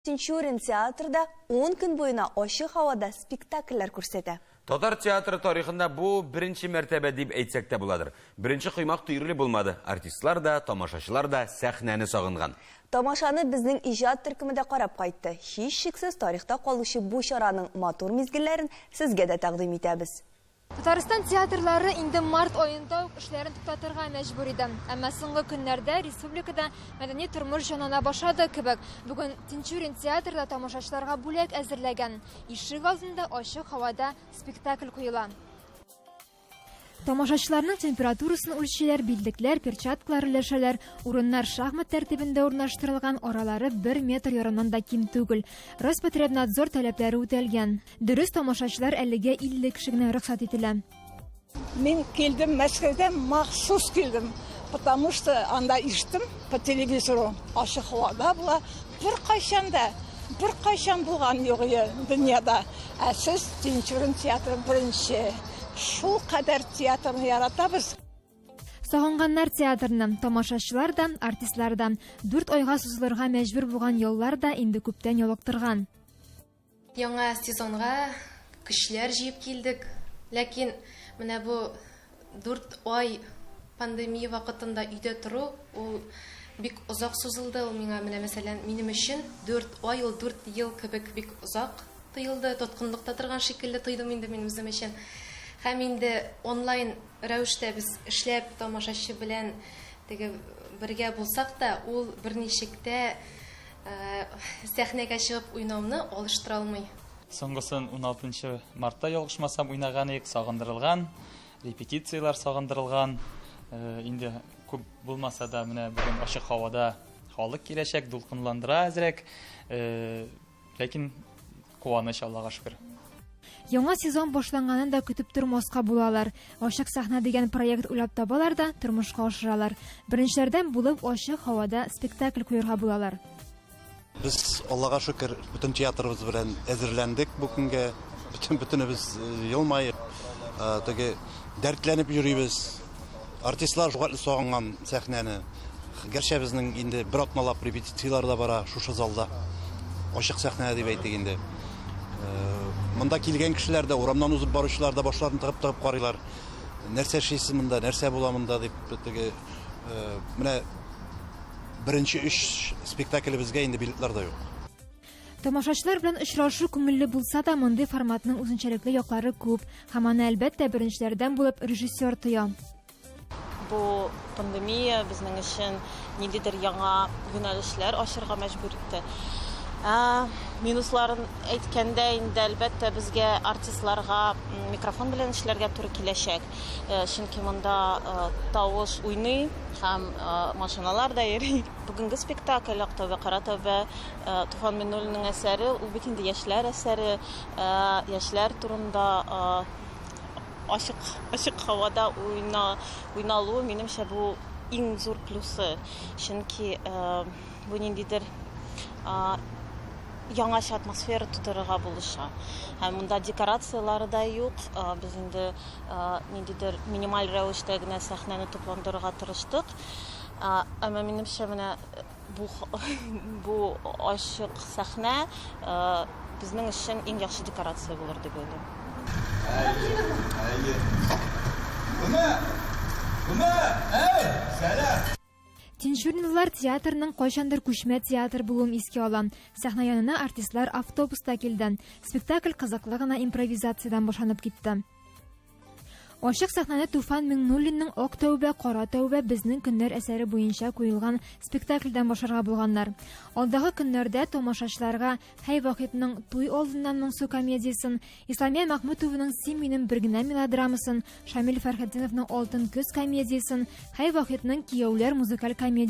Тинчурин театрда ун көн буена ачык һавада спектакльләр күрсәтә. Татар театры тарихында бу беренче мәртәбә дип әйтсәк тә буладыр. Беренче коймак төерле булмады. Артистлар да, тамашачылар да сәхнәне сагынган. Тамашаны безнең иҗат төркеме дә карап кайтты. Һичшиксез тарихта калучы бу чараның матур мизгелләрен сезгә дә тәкъдим итәбез. Татарстан театрлары инде март аенда ук эшләрен туктатырга мәҗбүр иде. Әмма соңгы көннәрдә республикада мәдәни тормыш җанлана башлады кебек. Бүген Тинчурин театрда тамашачыларга бүләк әзерләгән. Ишек алдында ачык һавада спектакль куела. Тамашачыларның температурасын үлчиләр, билдекләр, перчаткалар өләшәләр. Урыннар шахмат тәртибендә урнаштырылган, аралары бер метр ярымнан да ким түгел. Роспотребнадзор таләпләре үтәлгән. Дөрес, тамашачылар әлегә 50 кеше генә рөхсәт ителә. Мин килдем Мәскәүдән, махсус килдем, потому что анда иштем по телевизору, ачык һавада була, беркайчан да, беркайчан булган юк иде дөньяда. Ә сез Тинчурин театры беренче. Шул кадәр театрны яратабыз. Сагынганнар театрны, тамашачылар да, артистлар да. Дүрт айга сузылырга мәҗбүр булган яллар да инде күптән ялыктырган. Яңа сезонга көчләр җыеп килдек. Ләкин менә бу дүрт ай пандемия вакытында өйдә тору, ул бик озак сузылды. Ул миңа, менә мәсәлән, минем өчен дүрт ай ул дүрт ел кебек бик озак тоелды. Тоткынлыкта торган шикелле тойдым инде мин үзем өчен. Һәм инде онлайн рәвештә без эшләп, тамашачы белән теге бергә булсак та, ул берничек тә Сәхнәгә чыгып уйнауны алыштыра алмый. Соңгысын 16 мартта ялгышмасам уйнаган идек, сагындырылган, репетицияләр сагындырылган. Инде күп булмаса да менә бүген ачык һавада халык киләчәк, дулкынландыра әзрәк. Ләкин Куаныч, Аллага шөкер. Яңа сезон башланганын да көтеп тормаска була алар. Ачык сәхнә дигән проект уйлап табалар да, тормышка ашыралар. Беренчеләрдән булып ачык һавада спектакль куярга була алар. Без, Аллага шөкер, бөтен театрыбыз белән әзерләндек бу көнгә. Бөтен бөтенебез елмаеп, теге дәртләнеп йөрибез. Артистлар шулкадәр сагынган сәхнәне. Гәрчә безнең инде бер атналап репетицияләр дә бара шушы залда. Ачык сәхнә дип әйтик инде. Э, монда килгән кешеләр дә, урамнан узып баручылар да башларын тыгып-тыгып карыйлар. Нәрсә эшлисез монда, нәрсә була монда дип теге э, менә беренче өч спектаклебезгә инде билетлар да юк. Тамашачылар белән очрашу күңелле булса да, мондый форматның үзенчәлекле яклары күп, һәм аны, әлбәттә, беренчеләрдән булып режиссер тоя. Бу пандемия безнең өчен ниндидер яңа юнәлешләр ачырга мәҗбүр итте. Ә, минусларын әйткәндә, инде әлбәттә безгә артистларга микрофон белән эшләргә туры киләчәк. Э, чөнки монда э, тавыш уйный һәм э, машиналар да йөри. Бүгенге спектакль Ак тәүбә, кара тәүбә, Туфан Миннуллинның әсәре, ул бит инде яшьләр әсәре, яшьләр турында ачык, ачык һавада уйна, уйналуы, минемчә, бу иң зур плюсы. Чөнки бу ниндидер яңача атмосфера тудырырга булыша. Һәм монда декорацияләре дә юк. Без инде ниндидер минималь рәвештә генә сәхнәне тупландырырга тырыштык. Әмма минемчә менә бу бу ачык сәхнә безнең өчен иң яхшы декорация булыр дип уйлыйм. Тинчуринлылар театрның кайчандыр күчмә театр булуын искә ала. Сәхнә янына артистлар автобуста килде. Спектакль кызыклы гына импровизациядән башланып китте. Ачык сәхнәдә Туфан Миңнуллинның Ак тәүбә, кара тәүбә, безнең көннәр әсәре буенча куелган спектакльдән башларга булганнар. Алдагы көннәрдә тамашачыларга Хәй Вахитның Туй алдыннан моңсу комедиясен, Исламия Мәхмүтованың Син минем бер генә мелодрамасын, Шамил Фәрхетдиновның Алтын көз комедиясен, Хәй Вахитның Кияүләр музыкаль комедиясен